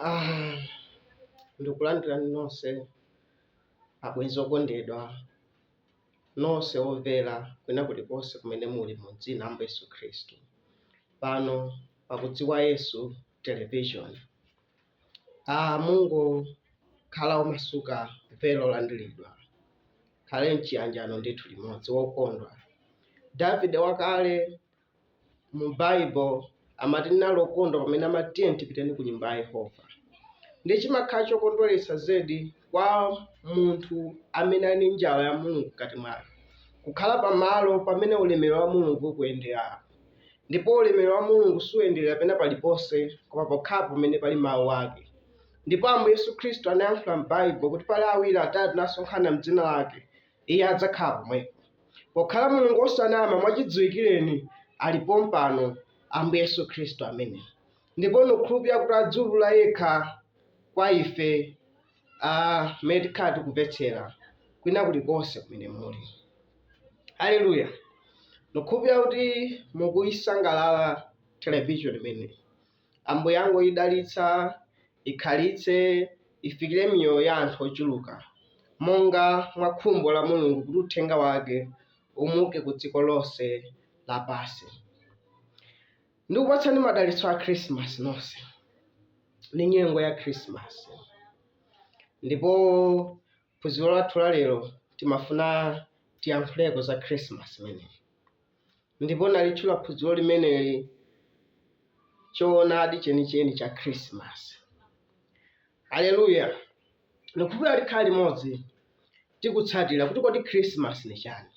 Ah, ndikulandirani nonse abwenzi okondedwa nonse omvera kwina kulikonse kumene muli mu dzina la Ambuye Yesu Khristu pano pakudziwa Yesu television. Ah, mungokhala omasuka mumve olandiridwa tikhale mchiyanjano ndithu limodzi wokondwa Davide wakale mu Bible amati ine ndinali okondwa pamene amati tiyeni tipiteni ku nyumba ya Yehova. Ndi chimakhala chokondweretsa zedi kwa munthu amene ali ndi njala ya Mulungu mkati mwake, kukhala pamalo pamene ulemerero wa Mulungu ukuyendera. Ndipo ulemerero wa Mulungu suyenderera pena paliponse koma pokhapo pamene pali mawu ake. Ndipo Ambuye Yesu Khristu anayankhula m'Baibulo kuti pali awiri atatu nasonkhana m'dzina lake, Iye adzakhala pomwepo. Pokhala Mulungu wosanama, mwachidziwikireni ali pompano, Ambuye Yesu Khristu amene. Ndipo nikukhulupirira kuti adziulula Yekha kwa ife, a, mmene tikhala tikumvetsera, kwina kulikonse kumene muli. Aleluya! Nikukhulupirira kuti mukuisangalala televizioni imeneyi. Ambuye angoidalitsa, ikhalitse, ifikire miyoyo ya anthu ochuluka, monga mwa khumbo la Mulungu kuti uthenga wake umuke ku dziko lonse lapansi. Ndikupatsani madalitso a Khrisimasi nonse, ndi nyengo ya Khrisimasi. Ndipo phunziro lathu la lero timafuna tiyankhuleko za Khrisimasi imeneyi. Ndipo nalitchula phunziro limeneli Choonadi Chenicheni cha Khirisimasi. Aleluya! Ndikukhulupirira tikhala limodzi tikutsatira kuti kodi Khirisimasi ni chani,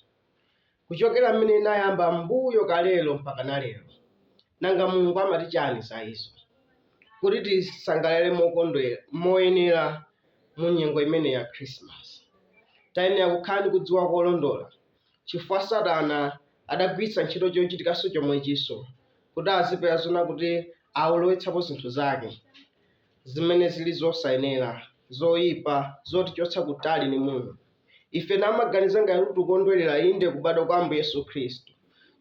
kuchokera mmene inayamba mbuyo kalero mpaka na lero, nanga Mulungu amati chani za izo, kuti tisangalale mokondwera moyenera mu nyengo imeneyi ya Khirisimasi. Tayenera kukhala ndi kudziwa kolondola chifukwa Satana adagwiritsa ntchito chochitikanso chomwechinso kuti azipeza zoona kuti awalowetsapo zinthu zake zimene zili zosayenera, zoipa, zotichotsa kutali ndi Mulungu. Ife namaganiza ngati kuti tikukondwerera inde kubadwa kwa Ambuye Yesu Khristu,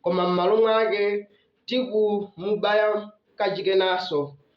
koma m'malo mwake tikumubaya kachikenanso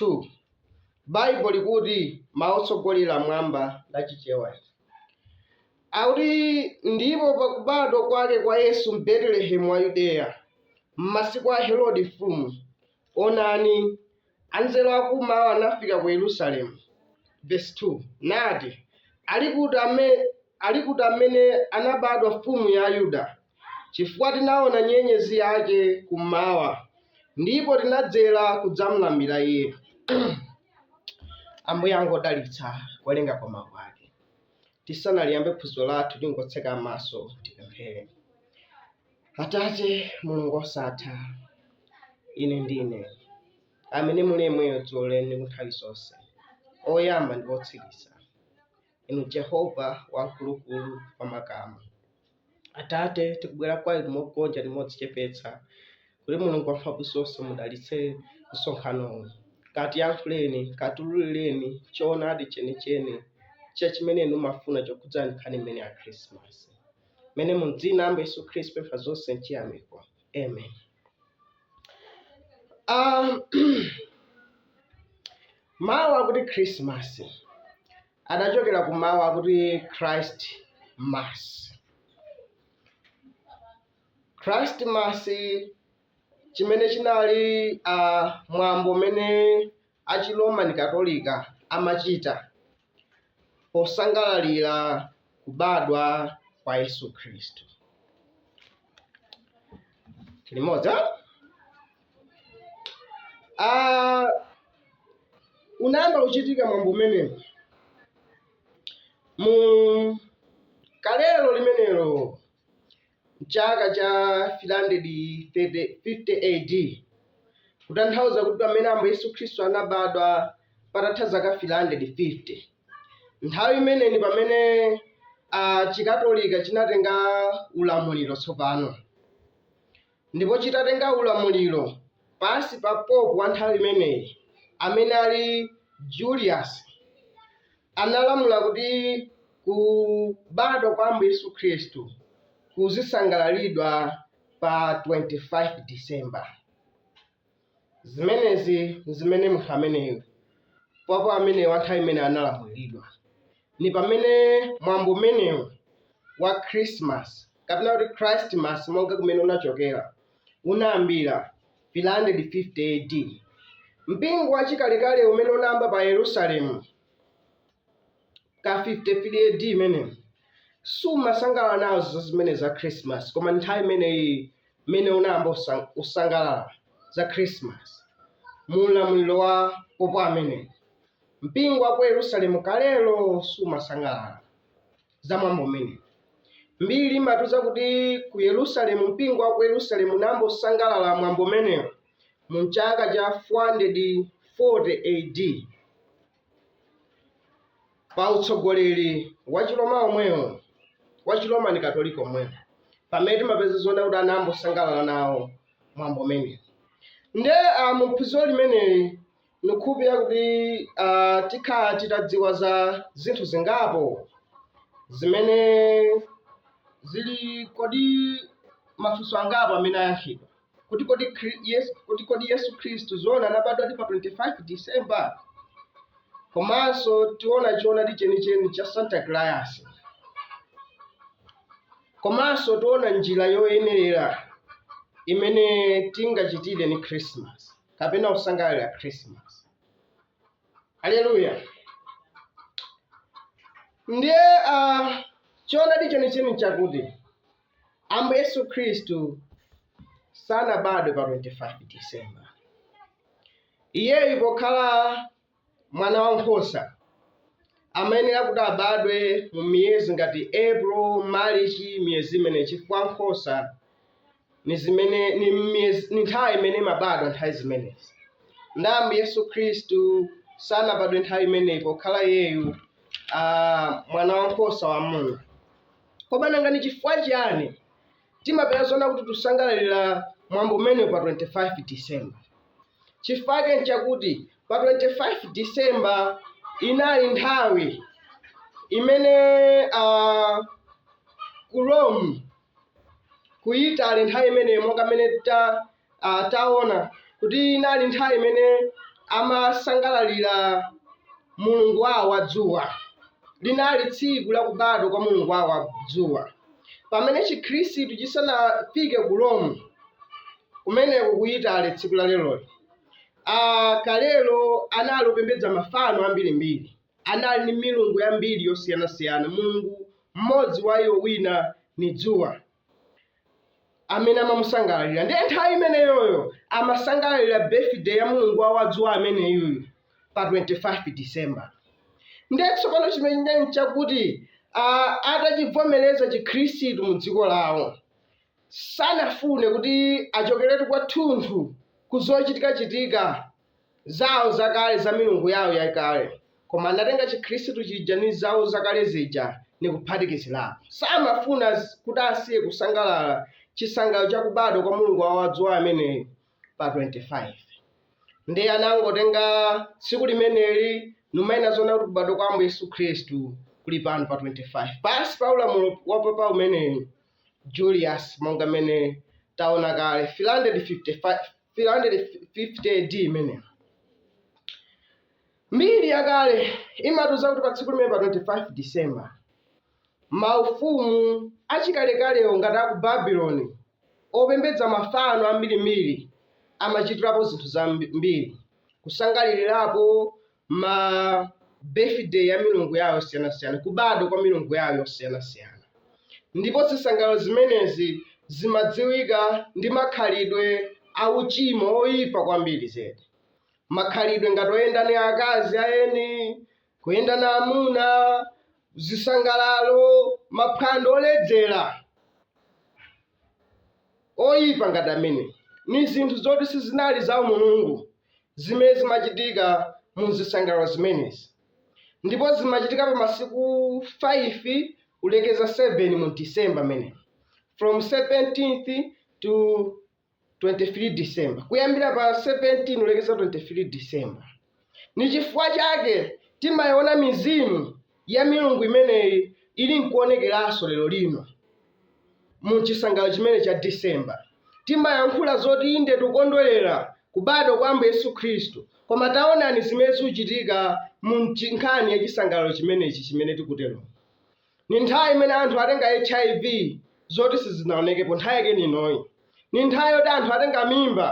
2, Baibo likuti mau otsogolera m'Baibo la Chichewa ija akuti, Ndipo pa kubadwa kwake kwa Yesu m'Betelehemu wa Yudeya, m'masiku a Herode mfumu, onani, anzeru a kum'mawa anafika ku Yerusalemu, vesi 2, nati, Ali kuti amene anabadwa Mfumu ya Ayuda? chifukwa tinaona nyenyezi yake kummawa, ndipo tinadzera kudzamlambira iye. Ambuye angodalitsa kuwerenga kwa mawu ake. Tisanaliyambe phunziro lathu, tingotseka maso tipemphere. Atate Mulungu osatha, ine ndine amene muli yemweyo dzulo lero ndi kunthawi zonse, oyamba ndi wotsiriza, inu Jehova wamkulukulu wa makamu. Atate, tikubwera kwa Inu mogonja ndi modzichepetsa, kuti Mulungu Wamphamvuzonse mudalitse msonkhano uwu. Katiyankhuleni, katululireni choonadi chenicheni cha chimene Inu mumafuna chokhudza nkhani imeneyi ya Christmas. M'menemo mu dzina la Ambuye Yesu Khristu tapempha zonse mchiyamiko. Amen. Um, mawu akuti Christmas adachokera ku mawu akuti Christ Mass. Christ Mass chimene chinali uh, mwambo umene a chi Roman Katolika amachita posangalalira kubadwa kwa Yesu Khristu. Tili limodzi. Ah, unayamba kuchitika mwambo umenewu mu kalelo limenelo mchaka cha 350 AD kutanthauza kuti pamene ambuye yesu khristu anabadwa patatha zaka 350 nthawi imeneyi ndi pamene uh, chikatolika chinatenga ulamuliro tsopano ndipo chitatenga ulamuliro pansi pa Pope wa nthawi imeneyi amene anali Julius, analamula kuti kubadwa kwa Ambuye Yesu Khristu kuzisangalalidwa pa 25 December. Zimenezi n'zimene munthu ameneyu, Pope ameneyu wa nthawi imeneyo analamulira. Ni pamene mwambo umenewu wa Christmas, kapena kuti Christ Mass monga kumene unachokera, unayambira pa 350 AD. Mpingo wachikalekale umene unayamba pa Yerusalemu, ka 33 A.D. imeneyo sumasangalala nazo zimenezi za Christmas, koma nthawi imeneyi imene unayamba kusangalala za Christmas mu ulamuliro wa Pope ameneyo. Mpingo wa ku Yerusalemu kalelo sumasangalala za mwambo umenewu. Mbiri imatiuza kuti ku Yerusalemu, mpingo wa ku Yerusalemu unayamba kusangalala mwambo umenewu mu chaka cha 440 A.D. pa utsogoleri wa chiroma omwewo wa chiroma ni katolika omwewo pamene timapeza zoona kuti anayamba usangalala nawo mwambo umenewu nde uh, muphunziro limeneli ndikukhulupirira kuti uh, tikhala titadziwa za zinthu zingapo zimene zili kodi mafunso angapo amene ayankhidwa kuti kodi Khri- Yesu, kuti kodi Yesu Khristu zoona anabadwadi pa 25 December? Komanso tiona choonadi chenicheni cha Santa Claus. Komanso tiona njira yoyenerera imene tingachitire ni Christmas kapena kusangalala Christmas. Haleluya. Ndiye uh, choonadi chenicheni chakuti Ambuye Yesu Khristu sanabadwe pa 25 December. Iyeyu pokhala mwana wa nkhosa amayenera kuti abadwe mu miyezi ngati April, March, miyezi imeneyi chifukwa nkhosa ni zimene ni miyezi ni nthawi imene imabadwa nthawi zimenezi. Nde Ambuye Yesu Khristu sanabadwe nthawi imeneyi pokhala iyeyu ah, mwana wa nkhosa wa Mulungu. Koma nanga ni cifukwa ciani timapeza zoona kuti tusangalalila mwambo umenewu pa 25 December? Cifukwa cake n'cakuti pa 25 December inali nthawi imene a ku Rome, ku Italy nthawi imeneyo monga mmene ta ah, taona kuti inali nthawi imene amasangalalira mulungu wawo wa dzuwa linali tsiku lakubadwa kwa mulungu wawo wa dzuwa pamene chikhristu chisanafike ku rome kumeneko ku itale tsiku la leroli ah, kalelo anali opembedza mafano ambirimbiri anali ndi milungu yambiri yosiyanasiyana mulungu mmodzi wa iwo wina ni dzuwa amene amamusangalalira ndiye nthawi imeneyoyo amasangalalira birthday ya mulungu wawo wa dzuwa ameneyuyu pa 25 december ndiye tsopano chimene chili nchakuti ah, atachivomereza chikhristu mu dziko lawo sanafune kuti achokeretu kwathunthu ku zochitikachitika zawo zakale za milungu yawo yakale koma anatenga chikhristu chija ndi zawo zakale zija ndi kuphatikizirapo samafuna s- kuti asiye kusangalala chisangalalo cha kubadwa kwa mulungu wawo wa dzuwa ameneyo pa 25 ndiye anangotenga tsiku limeneli numanena zoona kuti kubadwa kwa ambuye yesu khristu kuli pano pa 25 pansi pa ulamuliro wa papa ameneyu julius monga mmene taona kale 355 350 AD imeneyo. Mbiri yakale imatiuza kuti pa tsiku limeneli pa 25 December, maufumu achikalekalewo ngati a ku Babuloni opembedza mafano ambirimbiri amachitirapo zinthu zambiri, kusangalirirapo ma birthday a milungu yawo yosiyanasiyana kubadwa kwa milungu yawo yosiyanasiyana ndipo zisangalalo zimenezi zimadziwika ndi makhalidwe auchimo oyipa kwambiri zedi makhalidwe ngati oyenda ni akazi a eni kuyenda na amuna zisangalalo maphwando oledzera oyipa ngati ameneyi. Ni zinthu zoti sizinali zaumulungu zimene zimachitika mu zisangalalo zimenezi. Ndipo zimachitika pa masiku 5 kulekeza 7 mu December mmenemo, from 17th to 22nd. 23 December kuyambira pa 17 kulekeza 23 December. Ni chifukwa chake timayiona mizimu ya milungu imeneyi ili nkuonekeranso lero lino mu chisangalalo chimenechi cha December. Timayankhula zoti inde tikukondwerera kubadwa kwa Ambuye Yesu Khristu, koma taonani zimene zikuchitika mu nchi- nkhani ya chisangalalo chimenechi chimene tikutero. Ni nthawi imene anthu atenga HIV zoti sizinaonekepo, nthawi yake ni inoyi. Ni nthawi yoti anthu atenga mimba,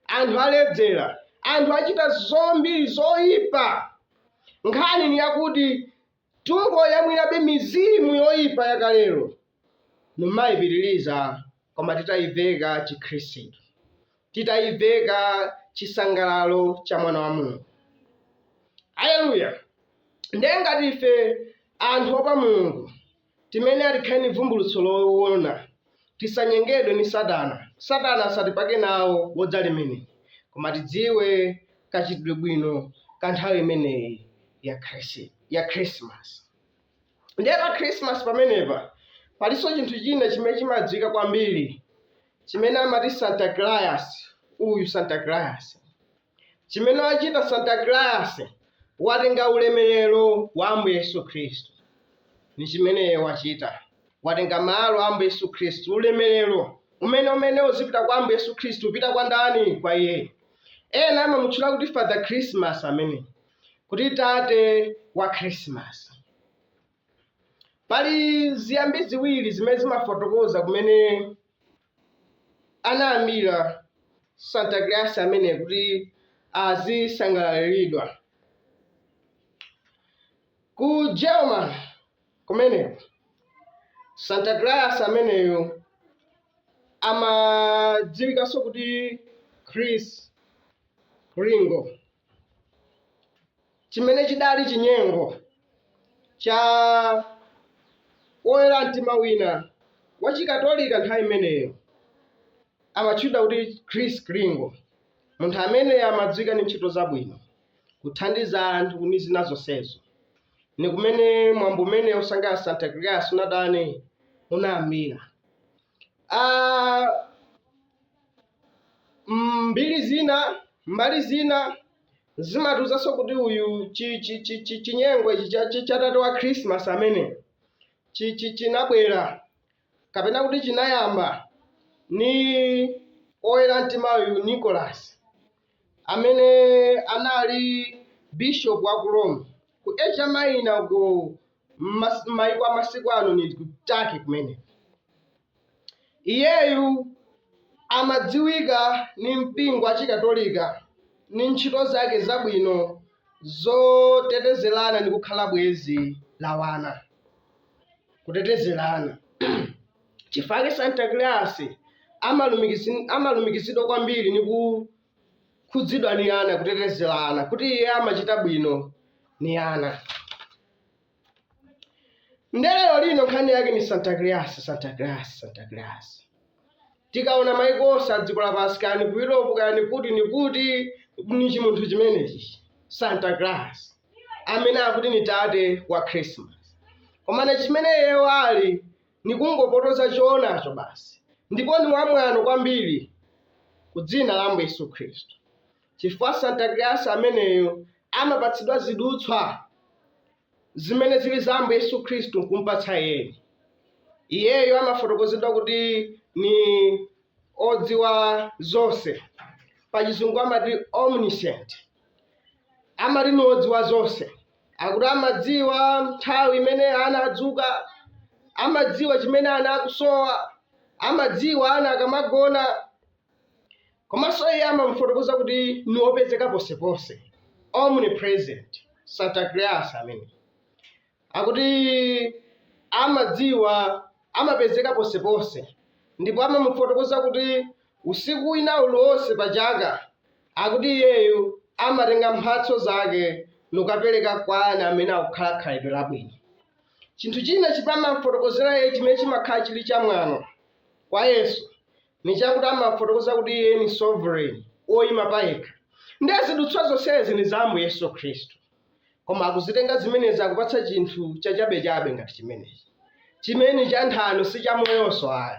anthu aledzera, anthu achita zambiri zoipa. Nkhani ni yakuti tukuyamwirabe mizimu yoipa yakaleyo, nkumaipitiriza koma titaiveka Chikhristu. titaiveka chisangalalo cha mwana wa mulungu aleluya ndiye ngati ife anthu oopa mulungu timene tili ni vumbulutso loona tisanyengedwe ni satana satana asatipake nawo bodza limeneli koma tidziwe kachitidwe bwino ka nthawi imeneyi ya Christ- ya krismasi ndiye pa krismasi pamenepa palinso chinthu china chimene chimadziwika kwambiri Chimene amati Santa Claus, uyu Santa Claus. Chimene wachita Santa Claus, watenga ulemerero wa Ambuye Yesu Khristu. Ni chimene iye wachita. Watenga malo a Ambuye Yesu Khristu, ulemerero umene umene uzipita kwa Ambuye Yesu Khristu, upita kwa ndani? Kwa iyeyo. Ena amamutchula kuti Father Christmas ameneyi, kuti tate wa Christmas. Pali ziyambi ziwiri zimene zimafotokoza kumene anayambira Santa Claus ameneyo kuti azisangalaliridwa. Ku Germany kumeneko, Santa Claus ameneyu amadziwikanso kuti Kris Kringle. chimene chidali chinyengo cha woyera mtima wina wa chikatolika nthawi imeneyo amatchedwa kuti Kris Kringle munthu ameneyu amadziwika ndi ntchito zabwino kuthandiza anthu ni zina zonsezo ni kumene mwambo umenewu osangalala Santa Claus unatani unayambira Ah, mm, mbiri zina mbali zina zimatuzanso kuti uyu chi- chi- chi- chi- chinyengo ichi cha- chi- cha tate wa khrisimasi amene chi- chi- chinabwera kapena kuti chinayamba ni oyera mtima uyu nicholas amene anali bishop wa ku rome ku asia minor ku M'mas- m'mayiko a masiku ano ni ku turkey kumene iyeyu amadziwika ni mpingo wa chikatolika ni ntchito zake zabwino zoteteza ana ndi kukhala bwenzi la wana kuteteza ana n'chifukwa chake santa claus amalumikisi- amalumikizidwa kwambiri ni kukhudzidwa ni ana kuteteza ana kuti iye amachita bwino ni ana nde lero lino nkhani yake ni santa claus santa claus santa claus tikaona maiko onse a dziko lapansi kaya ni ku europe kaya ni kuti ni kuti ni chimunthu chimenechi santa claus amene akuti ni tate wa christmas komano chimene iyeyo ali ni kungopotoza choonadi basi ndipo ni wamwano kwambiri ku dzina la ambuye yesu khristu Chifukwa Santa Claus ameneyu amapatsidwa zidutswa zimene zili za Ambuye Yesu Khristu n'kum'patsa iyeyu. Iyeyo amafotokozedwa kuti ni odziwa zonse, pachizungu amati omniscient. Amati ni odziwa zonse, akuti amadziwa nthawi imene ana adzuka, amadziwa chimene ana akusowa, amadziwa ana akamagona. Komanso iye amamufotokoza kuti ni wopezeka ponse-ponse, omnipresent, Santa Claus ameneyi. Akuti amadziwa, amapezeka ponse-ponse, ndipo amamufotokoza kuti usiku wina uliwonse pa caka, akuti iyeyo amatenga mphatso zake nukapeleka kwa ana amene akukhala khalidwe labwino. Cinthu cina cimene amam'fotokozela iye cimene cimakhala cili camwano kwa Yesu, ni chakuti amafotokoza kuti iye ni sovereign oyima payekha nde zidutswa zonsezi ni za ambuye yesu khristu koma akuzitenga zimenezi akupatsa chinthu chachabechabe ngati chimenechi chimene cha nthano si chamoyonso ayi